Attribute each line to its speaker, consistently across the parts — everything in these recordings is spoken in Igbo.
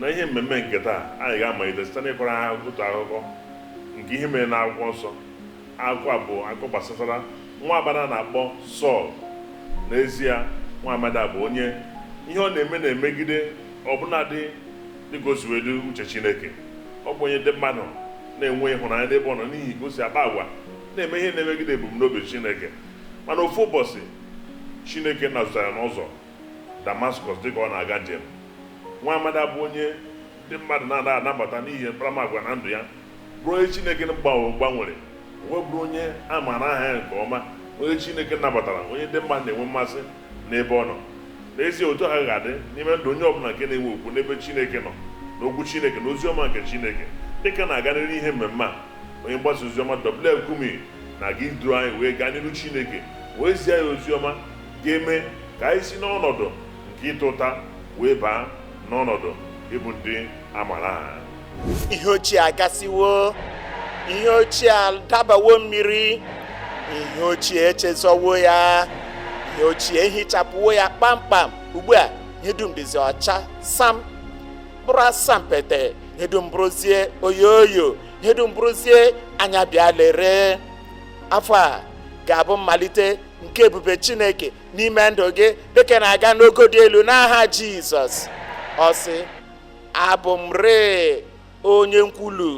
Speaker 1: Na ihe mmemme nke taa, anyị ga-amalite site n'ịkọrọ ha otu akụkọ nke ihe mere n'akwụkwọ nsọ. Akụkọ a bụ akụkọ gbasatara nwa agbada na-akpọ Sọl. N'ezie, nwa amadi a bụ onye ihe ọ na-eme na-emegide ọbụnadị dịka o si wee dị uche Chineke. Ọ bụ onye ndị mmadụ na-enwe ịhụnanya n'ebe ọ nọ n'ihi ka o si akpa agwa na-eme ihe na-emegide ebumnobi Chineke. Mana ofu ụbọsị, Chineke nazụtara ya n'ụzọ Damaskọs dịka ọ na-aga njem. Nwa amadi a bụ onye ndị mmadụ na-anaghị anabata n'ihi mkparamagwa na ndụ ya, bụrụ onye Chineke gbanwere, wee bụrụ onye a maara aha ya nke ọma, onye Chineke nabatara, onye ndị mmadụ na-enwe mmasị n'ebe ọ nọ. N'ezie, otu ahụ ka ọ dị n'ime ndụ onye ọ bụla nke na-enwe okwukwe n'ebe Chineke nọ, n'Okwu Chineke, na ozi ọma nke Chineke. Dị ka a na-aga n'iru n'ihe mmemme a, onye mgbasa ozi ọma W.F. Kumuyi na-aga iduru anyị wee gaa n'iru Chineke wee zie ya ozi ọma. ga-eme ka anyị si n'ọnọdụ nke ịta ụta wee baa n'ọnọdụ ịbụ ndị a mara aha ihe ochie
Speaker 2: agasịwo ihe ochie adabawo mmiri ihe ochie echezọwo ya ihe ochie ehichapụwo ya kpamkpam ugbu a ihe dum dịzi ọcha sam bụrụ asampete ihe dum bụrụzie oyoyo ihe dum bụrụzie anya bịa lere afọ a ga-abụ mmalite nke ebube chineke n'ime ndụ gị dịka ị na-aga n'ogo dị elu n'aha jizọs ọ sị abụ m rịị onye nkwulu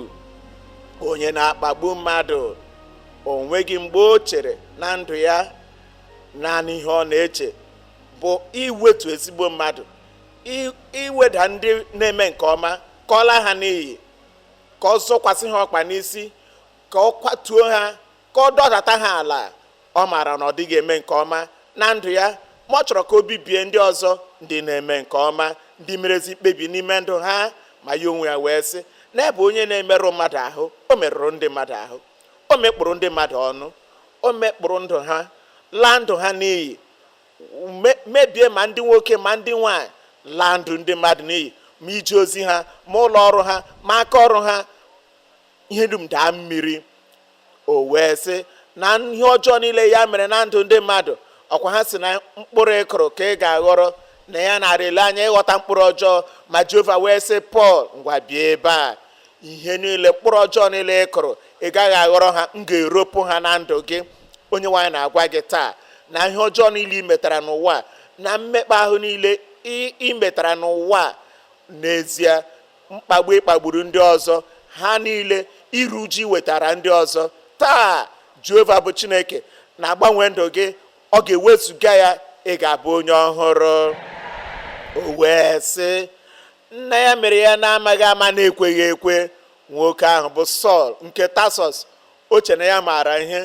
Speaker 2: onye na-akpagbu mmadụ o nweghị mgbe o chere na ndụ ya naanị ihe ọ na-eche bụ iwetu ezigbo mmadụ i- iweda ndị na-eme nke ọma ka ọ laa ha n'iyi ka ọ zọkwasị ha ọkpa n'isi ka ọ kwatuo ha ka ọ dọdata ha ala ọ maara na ọ dịghị eme nke ọma na ndụ ya ma ọ chọrọ ka o bibie ndị ọzọ ndị na-eme nke ọma ndị merezi mkpebi n'ime ndụ ha ma ya onwe ya wee sị na ya bụ onye na-emerụ mmadụ ahụ o merụrụ ndị mmadụ ahụ o mekpọrọ ndị mmadụ ọnụ o mekpọrọ ndụ ha laa ndụ ha n'iyi mebie ma ndị nwoke ma ndị nwanyị laa ndụ ndị mmadụ n'iyi ma ije ozi ha ma ụlọ ọrụ ha ma aka ọrụ ha ihe dum daa mmiri o wee sị na ihe ọjọọ niile ya mere na ndụ ndị mmadụ ọ kwa ha sị na mkpụrụ ị kụrụ ka ị ga-aghọrọ na ya na-arị ele anya ịghọta mkpụrụ ọjọọ ma jehova wee sị pọl ngwa bịa ebe a ihe niile mkpụrụ ọjọọ niile ị kụrụ ị gaghị aghọrọ ha m ga-eropụ ha na ndụ gị onyenwe anyị na-agwa gị taa na ihe ọjọọ niile ị metara n'ụwa na mmekpa ahụ niile ị ị metara n'ụwa n'ezie mkpagbu ị kpagburu ndị ọzọ ha niile iru uju i wetara ndị ọzọ taa jehova bụ chineke na-agbanwe ndụ gị ọ ga-ewezuga ya ị ga-abụ onye ọhụrụ o wee sị na ya mere ya n'amaghị ama n'ekweghị ekwe nwoke ahụ bụ sọl nke tasọs o che na ya maara ihe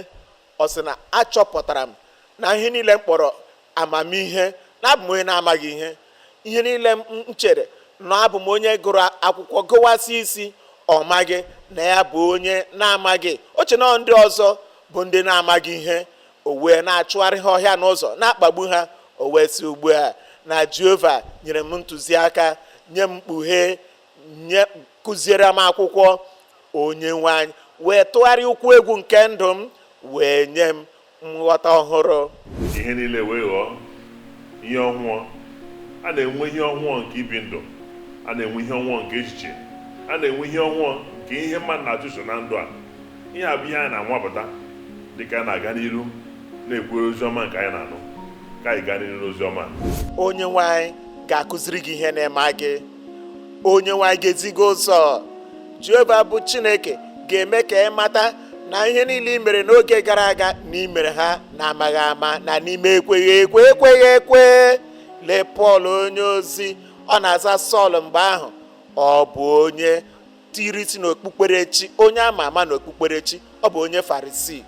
Speaker 2: Ọ sị na achọpụtara m na ihe niile m kpọrọ amamihe na abụ m onye na-amaghị ihe ihe niile m chere na abụ m onye gụrụ akwụkwọ gụwasị isi ọ maghị na ya bụ onye na-amaghị o che na ndị ọzọ bụ ndị na-amaghị ihe o wee na-achụgharị ha ọhịa n'ụzọ na-akpagbu ha o wee sị ugbu a na jehova nyere m ntụziaka nye m mkpughe kụziere m akwụkwọ onye nwe anyị wee tụgharịa ụkwụ egwu nke ndụ m wee nye m nghọta ọhụrụ ihe niile
Speaker 1: wee ghọọ ihe ọhụụ a na-enwe ihe ọhụụ nke ibi ndụ a na-enwe ihe ọhụụ nke echiche a na-enwe ihe ọhụụ nke ihe mmadụ na-achụso na ndụ a ihe a bụ ihe anyị na-anwapụta dị ka a na-aga n'iru na-ekwere ozi ọma nke anyị na-anụ ka anyị gaa n'iru n'ozi ọma onye nwe anyị
Speaker 2: ga-akụziri gị ihe ị na-amaghị onye nwe anyị ga-ezi gị ụzọ jehova bụ chineke ga-eme ka ị mata na ihe niile i mere n'oge gara aga na i mere ha n'amaghị ama na n'ime ekweghị ekwe ekweghị ekwe lee pọl onye ozi ọ na-aza sọl mgbe ahụ ọ bụ onye tiri isi n'okpukperechi onye ama ama n'okpukperechi ọ bụ onye farisii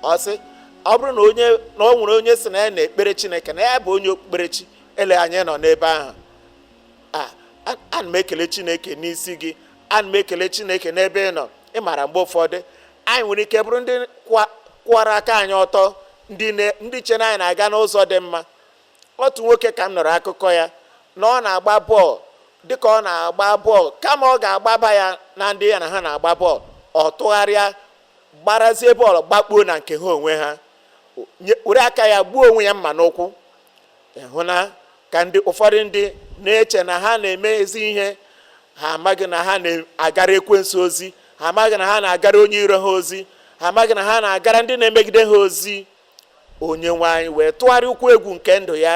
Speaker 2: ọ sị ọ bụrụ na o nwere onye sị na ya na-ekpere chineke na ya bụ onye okpukperechi ele anya ị nọ n'ebe ahụ ana m ekele chineke n'isi gị ana m ekele chineke n'ebe ị nọ ị maara mgbe ụfọdụ anyị nwere ike bụrụ ndị kwụwara aka anyị ọtọ ndị chere na anyị na-aga n'ụzọ dị mma otu nwoke ka m nụrụ akụkọ ya na ọ na-agba bọọlụ dịka ọ na-agba bọọlụ kama ọ ga-agbaba ya na ndị ya na ha na-agba bọọlụ ọ tụgharịa gbarazie bọọlụ gbakpuo na nke ha onwe ha were aka ya gbuo onwe ya mma n'ụkwụ ị hụna ka ndị ụfọdụ ndị na-eche na ha na-eme ezi ihe ha amaghị na ha na-agara ekwensu ozi ha amaghị na ha na-agara onye iro ha ozi ha amaghị na ha na-agara ndị na-emegide ha ozi onye nwe anyị wee tụgharịa ụkwụ egwu nke ndụ ya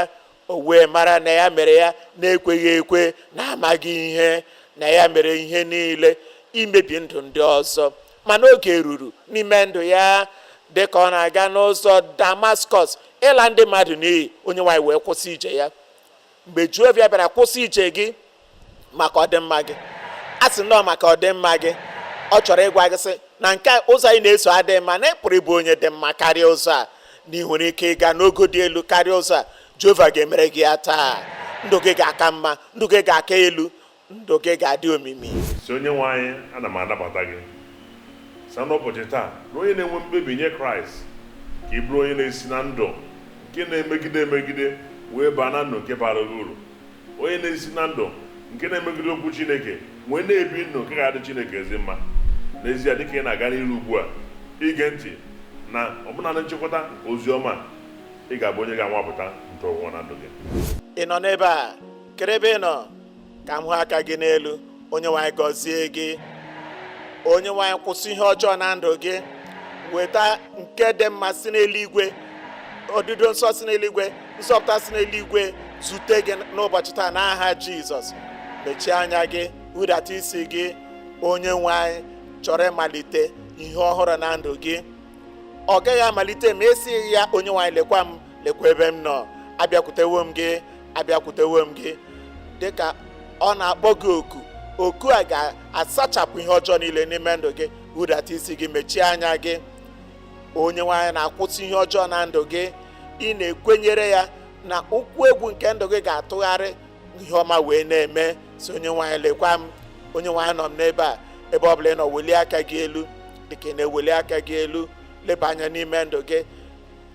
Speaker 2: o wee mara na ya mere ya n'ekweghị ekwe n'amaghị ihe na ya mere ihe niile imebi ndụ ndị ọzọ mana oge ruru n'ime ndụ ya dị ka ọ na-aga n'ụzọ damaskọs ịla ndị mmadụ n'iyi onye nwe anyị wee kwụsị ije ya mgbe jehova bịara kwụsị ije gị maka ọdịmma gị asị m na ọ maka ọdịmma gị ọ chọrọ ịgwa gị sị na nke ụzọ a ị na-eso adịghị mma na ị pụrụ ịbụ onye dị mma karịa ụzọ a na ị nwere ike ịga n'ogo dị elu karịa ụzọ a jehova ga-emere gị ya taa ndụ gị ga-aka mma ndụ gị ga-aka elu ndụ gị ga-adị omimi sị onye nwe
Speaker 1: anyị ana m anabata gị sa n'ụbọchị taa na onye na-enwe mkpebi nye kraịst ka ị bụrụ onye na-esi na ndụ nke na-emegide emegide wee baa na ndụ nke bara gị uru onye na-esi na ndụ nke na-emegide okwu chineke wee na-ebi ndụ nke ga-adị chineke ezi mma n'ezie dịka ị na-aga n'iru ugbu a ige ntị na ọbụna na nchịkọta nke ozi ọma ị ga-abụ onye ga-anwapụta nke onwe na ndụ gị ị nọ n'ebe
Speaker 2: a kedu ebe ị nọ ka m hụ aka gị n'elu onye nwe anyị gọzie gị onye nwe anyị kwụsị ihe ọjọọ na ndụ gị weta nke dị mma si n'eluigwe odido nsọ si n'eluigwe nzọpụta si n'eluigwe zute gị n'ụbọchị taa n'aha jizọs mechie anya gị hudata isi gị onye nwe anyị chọrọ ịmalite ihe ọhụrụ na ndụ gị ọ gaghị amalite ma ị sịghị ya onye nwe anyị lekwa m lekwa ebe m nọ abịakwutewo m gị abịakwutewo m gị dịka ọ na-akpọ gị oku oku a ga-asachapụ ihe ọjọọ niile n'ime ndụ gị hudata isi gị mechie anya gị onye nwe anyị na-akwụsị ihe ọjọọ na ndụ gị ị na-ekwenyere ya na ụkwụ egwu nke ndụ gị ga-atụgharị ihe ọma wee na-eme sị onye nwe anyị lekwa m onye nwe anyị anọ m n'ebe a ebe ọ bụla ị nọ welie aka gị elu dịka ị na-eweli aka gị elu leba anya n'ime ndụ gị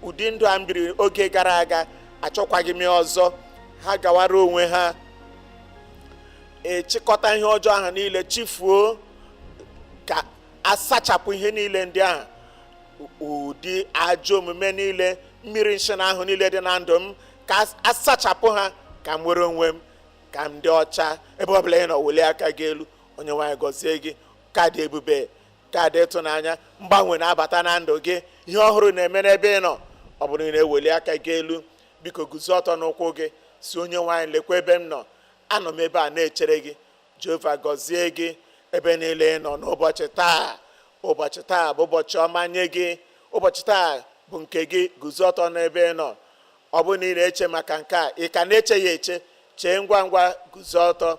Speaker 2: ụdị ndụ a m biri oge gara aga achọkwaghị m ya ọzọ ha gawara onwe ha echịkọta ihe ọjọọ ahụ niile chifuo ka asachapụ ihe niile ndị ahụ ụdị ajọ omume niile mmiri nsị na ahụ niile dị na ndụ m ka asachapụ ha ka m nwere onwe m ka m dị ọcha ebe ọ bụla ị nọ welie aka gị elu onye nwe anyị gọzie gị ka dị ebube ka dị ịtụnanya mgbanwe na-abata na ndụ gị ihe ọhụrụ na-eme n'ebe ị nọ ọ bụrụ na ị na-eweli aka gị elu biko guzo ọtọ n'ụkwụ gị sị onye nwe anyị lekwa ebe m nọ anọ m ebe a na-echere gị jehova gọzie gị ebe niile ị nọ n'ụbọchị taa ụbọchị taa bụ ụbọchị ọma nye gị ụbọchị taa bụ nke gị guzo ọtọ n'ebe ị nọ ọ bụrụ na ị na-eche maka nke a ị ka na-eche ya eche chee ngwa ngwa guzo ọtọ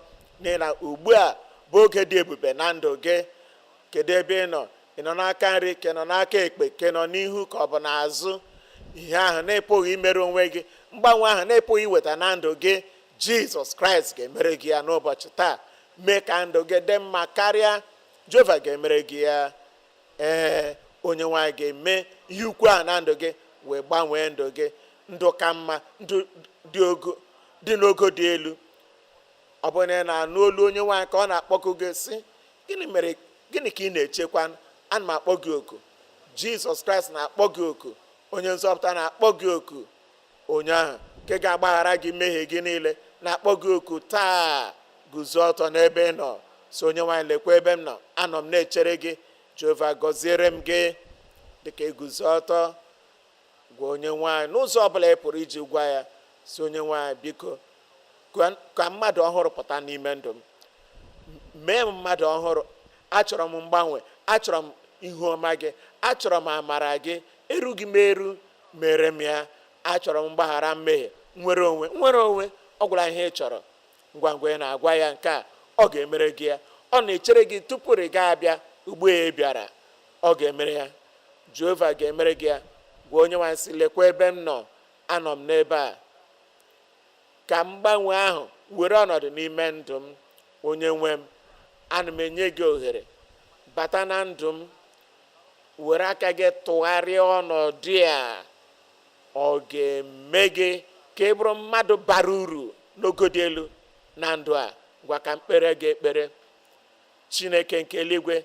Speaker 2: n'ihi na ugbu a bụ oge dị ebube na ndụ gị kedu ebe ị nọ ị nọ n'aka nri ka ị nọ n'aka ekpe ka ị nọ n'ihu ka ọ bụ n'azụ ihe ahụ na ị pụghị imere onwe gị mgbanwe ahụ na ị pụghị iweta na ndụ gị jizọs kraịst ga-emere gị ya n'ụbọchị taa mee ka ndụ gị dị mma karịa jehova ga-emere gị ya ee onye nwe anyị ga-eme ihe ukwu a na ndụ gị wee gbanwee ndụ gị ndụ ka mma ndụ dị n'ogo dị elu ọ bụrụ na ị na-anụ olu onye nwe anyị ka ọ na-akpọku gị sị gịnị ka ị na-echekwa ana m akpọ gị oku jizọs kraịst na-akpọ gị oku onye nzọpụta na-akpọ gị oku onye ahụ nke ga-agbaghara gị mmehie gị niile na-akpọ gị oku taa guzo ọtọ n'ebe ị nọ sị onye nwe anyị lekwa ebe m nọ anọ m na-echere gị jehova gọziere m gị dịka i guzo ọtọ gwa onye nwe anyị n'ụzọ ọbụla ị pụrụ iji gwa ya sị onye nwe anyị biko ka mmadụ ọhụrụ pụta n'ime ndụ m mee m mmadụ ọhụrụ achọrọ m mgbanwe achọrọ m ihu ọma gị achọrọ m amara gị erughị m eru mere m ya achọrọ m mgbaghara mmehie nwere onwe nwere onwe ịgwa ya ihe ị chọrọ ngwa ngwa ị na-agwa ya nke a ọ ga-emere gị ya ọ na-echere gị tupu ị ga-abịa ugbu a ị bịara ọ ga-emere ya jehova ga-emere gị ya gwa onye nwe anyị sị lekwa ebe m nọ anọ m n'ebe a ka mgbanwe ahụ were ọnọdụ n'ime ndụ m onye nwe m ana m enye gị ohere bata na ndụ m were aka gị tụgharịa ọnọdụ a ọ ga-eme gị ka ị bụrụ mmadụ bara uru n'ogo dị elu na ndụ a ngwa ka m kpere gị ekpere chineke nke eluigwe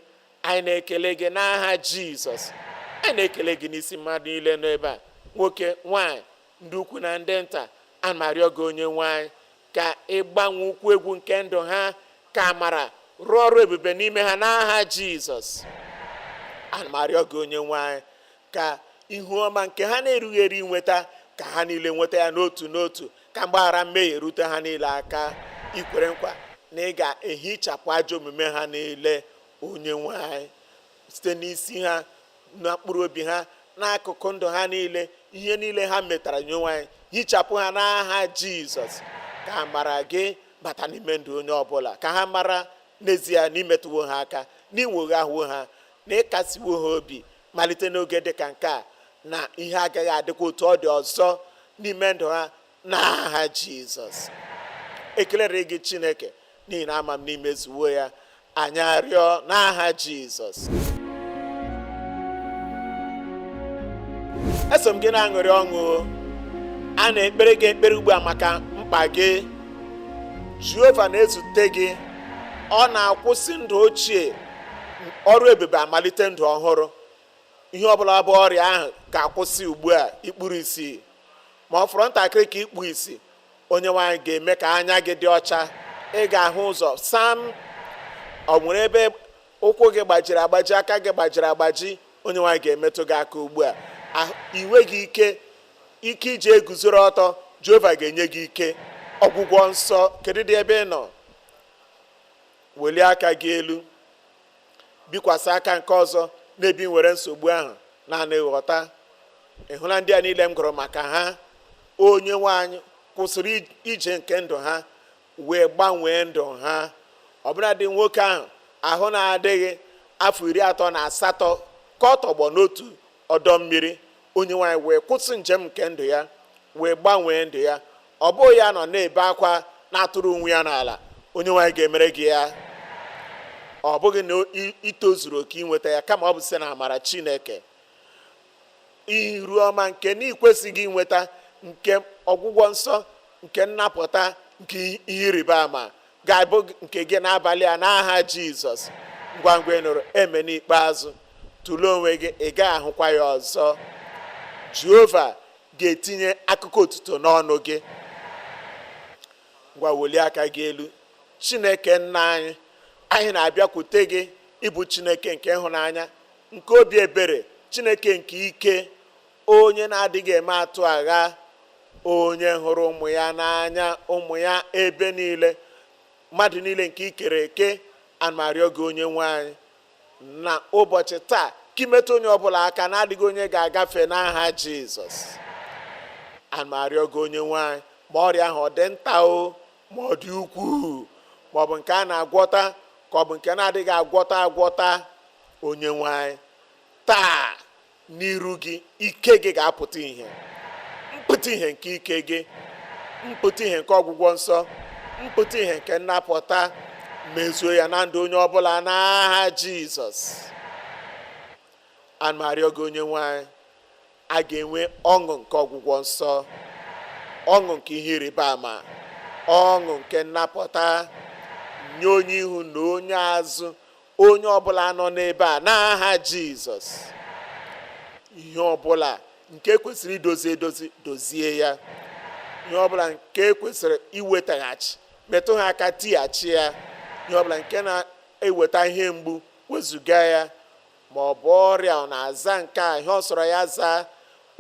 Speaker 2: anyị na-ekele gị n'aha jizọs anyị na-ekele gị n'isi mmadụ niile n'ebe a nwoke nwanyị ndị ukwu na ndị nta ana m arịọ gị onye nwe anyị ka ị gbanwee ụkwụ egwu nke ndụ ha ka amara rụọ ọrụ ebube n'ime ha n'aha jizọs ana m arịọ gị onye nwe anyị ka ihu ọma nke ha na-erughị eru inweta ka ha niile nweta ya n'otu n'otu ka mgbaghara mmehie rute ha niile aka i kwere nkwa na ị ga-ehichapụ ajọ omume ha niile onye nwe anyị site n'isi ha na mkpụrụ obi ha n'akụkụ ndụ ha niile ihe niile ha metara onye nwe anyị hichapụ ha n'aha jizọs ka amara gị bata n'ime ndụ onye ọbụla ka ha mara n'ezie na i metụwo ha aka na i nwoghawo ha na ị kasiwo ha obi malite n'oge dị ka nke a na ihe agaghị adịkwa otu ọ dị ọzọ n'ime ndụ ha n'aha jizọs ekelere gị chineke n'ihi na ama m na i mezuwo ya anyị arịọ n'aha Jizọs eso m gị na-aṅụrị ọṅụ a na-ekpere gị ekpere ugbu a maka mkpa gị Jehova na-ezute gị ọ na-akwụsị ndụ ochie ọrụ ebube amalite ndụ ọhụrụ ihe ọbụla bụ ọrịa ahụ ga-akwụsị ugbu a i kpuru isi ma ọ fọrọ ntakịrị ka i kpuo isi onye nwe anyị ga-eme ka anya gị dị ọcha ị ga-ahụ ụzọ sam ọ nwere ebe ụkwụ gị gbajiri agbaji aka gị gbajiri agbaji onye nwe anyị ga-emetụ gị aka ugbu a i nweghị ike ike i ji eguzoro ọtọ jehova ga-enye gị ike ọgwụgwọ nsọ kedu ụdị ebe ị nọ welie aka gị elu bikwasị aka nke ọzọ n'ebe ị nwere nsogbu ahụ naanị ghọta ị hụla ndị a niile m gụrụ maka ha onye nwe anyị kwụsịrị ije nke ndụ ha wee gbanwee ndụ ha ọbụladị nwoke ahụ ahụ na-adịghị afọ iri atọ na asatọ ka ọ tọgbọ n'otu ọdọ mmiri onye nwe anyị wee kwụsị njem nke ndụ ya wee gbanwee ndụ ya ọ bụghị ya nọ na-ebe akwa na-atụrụ onwe ya n'ala onye nwe anyị ga-emere gị ya ọ bụghị na i tozuru oke inweta ya kama ọ bụ site na amara chineke iru ọma nke na i kwesịghị inweta nke ọgwụgwọ nsọ nke nnapụta nke ihe ịrịba ama ga-abụ nke gị n'abalị a n'aha jizọs ngwa ngwa ị nụrụ amen ikpeazụ tụlee onwe gị ị gaghị ahụkwa ya ọzọ jehova ga-etinye akụkọ otuto n'ọnụ gị ngwa welie aka gị elu chineke nna anyị anyị na-abịakwute gị ị bụ chineke nke ịhụnanya nke obi ebere chineke nke ike onye na-adịghị eme atụ agha onye hụrụ ụmụ ya n'anya ụmụ ya ebe niile mmadụ niile nke i kere eke ana m arịọ gị onye nwe anyị na ụbọchị taa ka ị metụ onye ọbụla aka na adịghị onye ga-agafe n'aha jizọs ana m arịọ gị onye nwe anyị ma ọrịa ahụ ọ dị nta o ma ọ dị ukwuu ma ọ bụ nke a na-agwọta ka ọ bụ nke na-adịghị agwọta agwọta onye nwe anyị taa n'iru gị ike gị ga-apụta ihe mpụta ihe nke ike gị mpụta ihe nke ọgwụgwọ nsọ mpụta ihe nke nnapụta mezuo ya na ndụ onye ọbụla n'aha jizọs ana m arịọ gị onye nwe anyị a ga-enwe ọṅụ nke ọgwụgwọ nsọ ọṅụ nke ihe ịrịba ama ọṅụ nke nnapụta nye onye ihu na onye azụ onye ọbụla nọ n'ebe a n'aha jizọs ihe ọbụla nke kwesịrị idozi edozi dozie ya ihe ọbụla nke kwesịrị iwetaghachi metụ ha aka tighachi ya ihe ọbụla nke na-eweta ihe mgbu wezuga ya ma ọ bụ ọrịa ọ na-aza nke a ihe ọ sọrọ ya zaa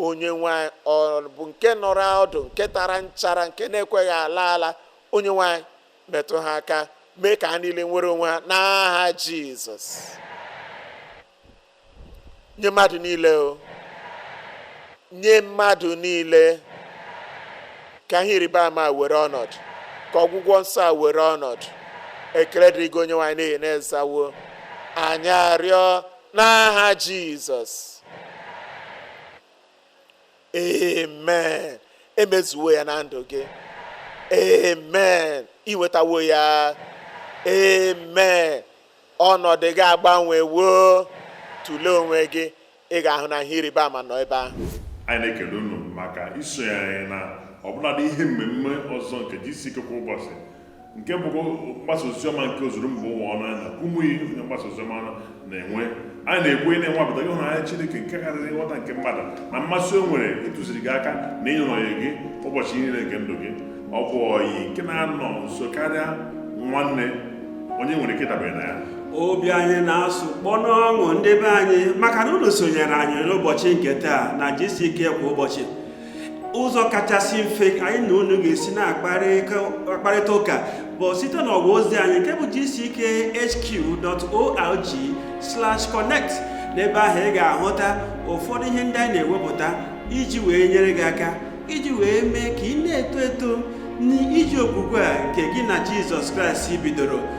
Speaker 2: onye nwe anyị ọ bụ nke nọrọ ọdụ nke tara nchara nke na-ekweghị ala ala onye nwe anyị metụ ha aka mee ka ha niile nwere onwe ha n'aha jizọs nye mmadụ niile o nye mmadụ niile ka ihe ịrịba ama a were ọnọdụ ka ọgwụgwọ nsọ a were ọnọdụ ekele dịrị gị onye nwe anyị n'ihi na ị zawo anyị arịọ n'aha jizọs amen emezuwo ya na ndụ gị amen i nwetawo ya amen ọnọdụ gị agbanwewo tụlee onwe gị ị ga-ahụ na ihe ịrịba ama nọ ebe ahụ anyị na-ekele unu
Speaker 1: maka isonye anyị na ọbụladị ihe mmemme ọzọ nke GCK kwa ụbọchị nke bụ mgbasa oziọma nke ozuru mba ụwa ọnụ anyị na Kumuyi onye mgbasa oziọma na-enwe anyị na-ekwu ị na-anwapụta ịhụnanya Chineke nke karịrị nghọta nke mmadụ na mmasị o nwere ịtụziri gị aka na ịnọnyere gị ụbọchị niile nke ndụ gị ọ bụ ọyị nke na-anọ nso karịa nwanne onye nwere ike ịdabere na ya obi anyị
Speaker 3: na-asụ kpọ n'ọṅụ ndị be anyị maka na unu sonyere anyị n'ụbọchị nke taa na GCK kwa ụbọchị ụzọ kachasị mfe anyị na unu ga-esi na-akparịta ụka bụ site n'ọwa ozi anyị nke bụ gckhq.org/connect n'ebe ahụ ị ga-ahụta ụfọdụ ihe ndị anyị na-ewepụta iji wee nyere gị aka iji wee mee ka ị na-eto eto n'ije okwukwe a nke gị na Jizọs Kraịst bidoro